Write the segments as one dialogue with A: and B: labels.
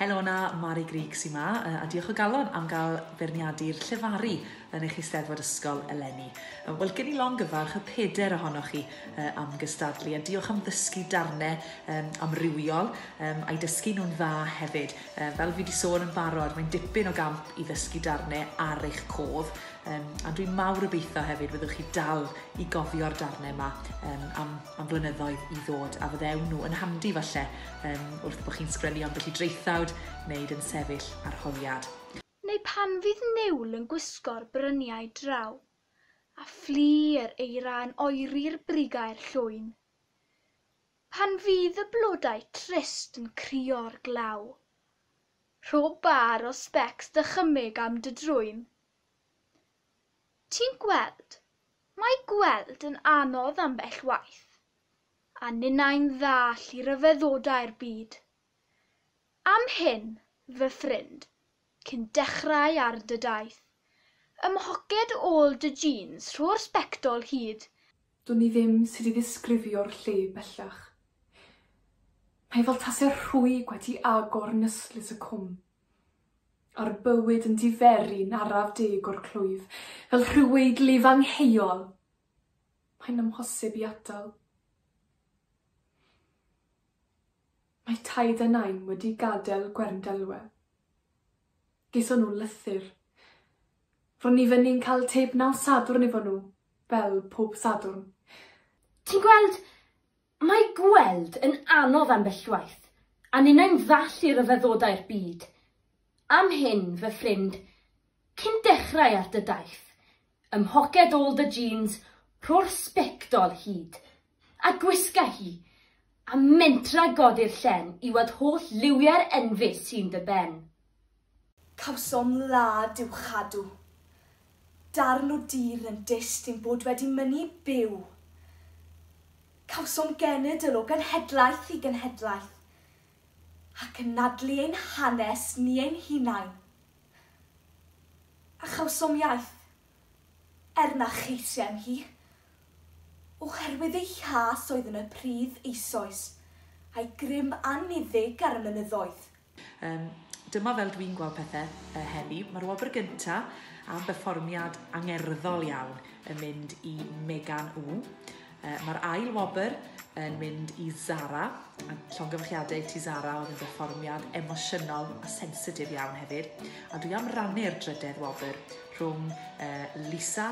A: Helo na, Mari Grug sy'n ma, a diolch o galon am gael beirniadu'r llefaru yn eich eisteddfod ysgol eleni. Wel, gen i longyfarch y peder ohonoch chi am gystadlu, a diolch am ddysgu darnau um, amrywiol um, a'i dysgu nhw'n dda hefyd. Um, fel fi wedi sôn yn barod, mae'n dipyn o gamp i ddysgu darnau ar eich cof, um, a dwi'n mawr obeithio hefyd fyddwch chi dal i gofio'r darnau yma um, am am flynyddoedd i ddod a fyddewn nhw yn handi falle um, wrth bod chi'n sgrennu ambell i draethawd wneud yn sefyll arholiad. Neu pan fydd niwl yn gwisgo'r bryniau draw, a fflu yr eira yn oeri'r brigau'r llwyn. Pan fydd y blodau trist yn crio'r glaw. Rho bar o specs dychymyg am dy drwyn. Ti'n gweld, mae gweld yn anodd ambell waith, a ninnau'n ddall i ryfeddodau'r byd. Am hyn, fy ffrind, cyn dechrau ar dy daith, ymhoced ôl dy jîns rho'r sbectol hyd, Dwn i ddim sut i ddisgrifio'r lle bellach. Mae fel tase rhwyg wedi agor nystlys y cwm. A'r bywyd yn diferu'n araf deg o'r clwyf, fel rhyw weidlif angheuol, mae'n amhosib i atal. Mae taid a nain wedi gadael Gwerndelwe. Geithon nhw lythyr. Ro'n ni fyny'n cael tib naw Sadwrn efo nhw, fel pob Sadwrn. Ti'n gweld, Mae gweld yn anodd ambellwaith, a ninnau'n ddall i ryfeddodau'r byd. Am hyn, fy ffrind, cyn dechrau ar dy daith, ym mhoced ôl dy jîns rho'r sbectol hyd, a gwisga hi, a mentra godi'r llen i weld holl liwiau'r enfys sy'n dy ben. Cawsom wlad i'w chadw. Darn o dir yn dyst i'n bod wedi mynnu byw. Cawsom genedl o genhedlaeth i genhedlaeth, ac yn nadlu ein hanes ni ein hunain. A chawsom iaith. er na cheisiam hi, oherwydd ei chas oedd yn y pridd eisoes, a'i grym anniddig ar y mynyddoedd. Yym, dyma fel dwi'n gweld pethe yy heddi. Ma'r wobr gynta am berfformiad angerddol iawn yn mynd i Megan Wu. Uh, Mae'r ail wobr yn mynd i Zara, a llongyfarchiadau i ti Zara, oedd yn berfformiad emosiynol a sensitif iawn hefyd. A dwi am rannu'r drydedd wobr rhwng uh, Lisa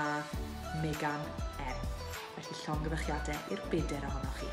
A: a Megan M. Felly llongyfarchiadau i'r bedair ohonoch chi.